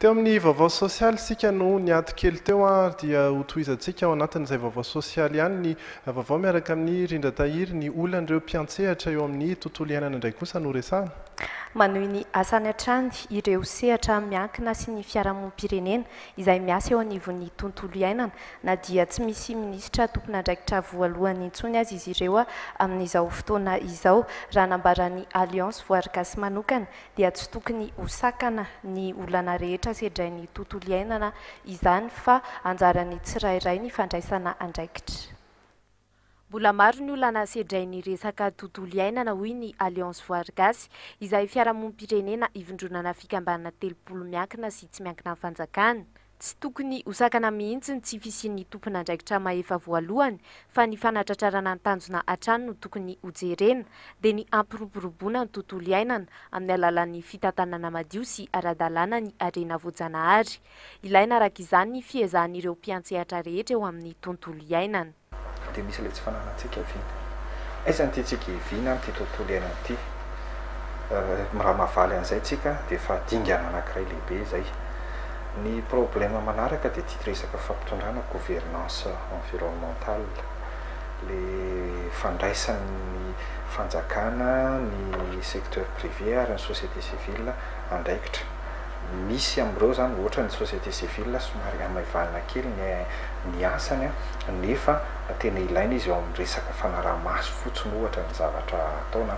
Teo amin'ny vaovao sosialy isika no niato kely teo ary dia ho tohizantsika ao anatin'izay vaovao sosialy ihany ny vaovao miaraka amin'i Rindra Tahiry. Ny olan'ireo mpiantsehatra eo amin'ny tontolo iainana indray kosa no resahana. Manohy ny asany hatrany ireo sehatra miankina sy ny fiarahamonim-pirenena izay miasa eo anivon'ny tontolo iainana na dia tsy misy minisitra tompon'andraikitra voalohany intsony aza izy ireo amin'izao fotoana izao. Raha nambaran'ny Alliance Voary Gasy manokana dia tsy tokony ho sakana ny olana rehetra sedrain'ny tontolo iainana izany fa anjaran'ny tsirairay ny fandraisana andraikitra. Mbola maro ny olana sedrain'ny resaka tontolo iainana, hoy ny Alliance Voary Gasy, izay fiarahamonim-pirenena ivondronana fikambanana telopolo miankina sy tsy miankina amin'ny fanjakana. Tsy tokony ho sakana mihitsy ny tsy fisian'ny tompon'andraikitra mahefa voalohany, fa ny fanatratrarana ny tanjona hatrany no tokony ho jerena, dia ny hampiroboroboana ny tontolo iainana amin'ny alalan'ny fitantanana madio sy ara-dalàna ny harena voajanahary. Ilaina araka izany ny fiezahan'ireo mpiantsehatra rehetra eo amin'ny tontolo iainana. Dia misy ilay tsy fananantsika vina. Aiza no tiantsika hivina amin'ity tontolo iainana ity? Raha mahavaly an'izay isika dia efa dingana anankiray lehibe izay. Ny problème manaraka dia ity resaka fampitondrana, gouvernance environnementale, ilay fandraisan'ny fanjakana, ny secteur privé ary ny société civile andraikitra. misy amin'ireo izany hoatra ny société civile somary hamaivanina kely ny ny asany nefa tena ilaina izy eo amin'ny resaka fanaraha-maso fotsiny ohatra ny zavatra atao na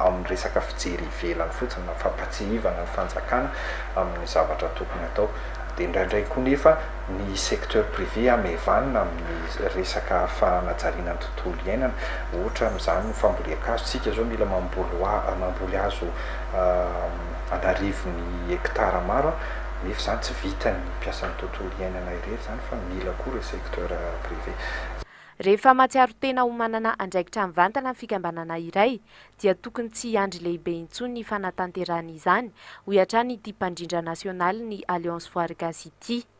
amin'ny resaka fijery ivelany fotsiny na fampatsihivana ny fanjakana amin'ny zavatra tokony atao dia indraindray koa nefa ny secteur privé hamaivanina amin'ny resaka fanajariana ny tontolo iainana ohatra amin'izany ny fambolen-kazo, isika izao mila mamboly hoa mamboly hazo an'arivony hectares maro nefa izany tsy vitan'ny mpiasan'ny tontolo iainana irery izany fa mila koa ireo secteur privé. Rehefa mahatsiaro tena ho manana andraikitra mivantana ny fikambanana iray dia tokony tsy hiandry lehibe intsony ny fanatanterahany izany, hoy hatrany ity mpandrindra nasionalin'ny Alliance Voary Gasy ity.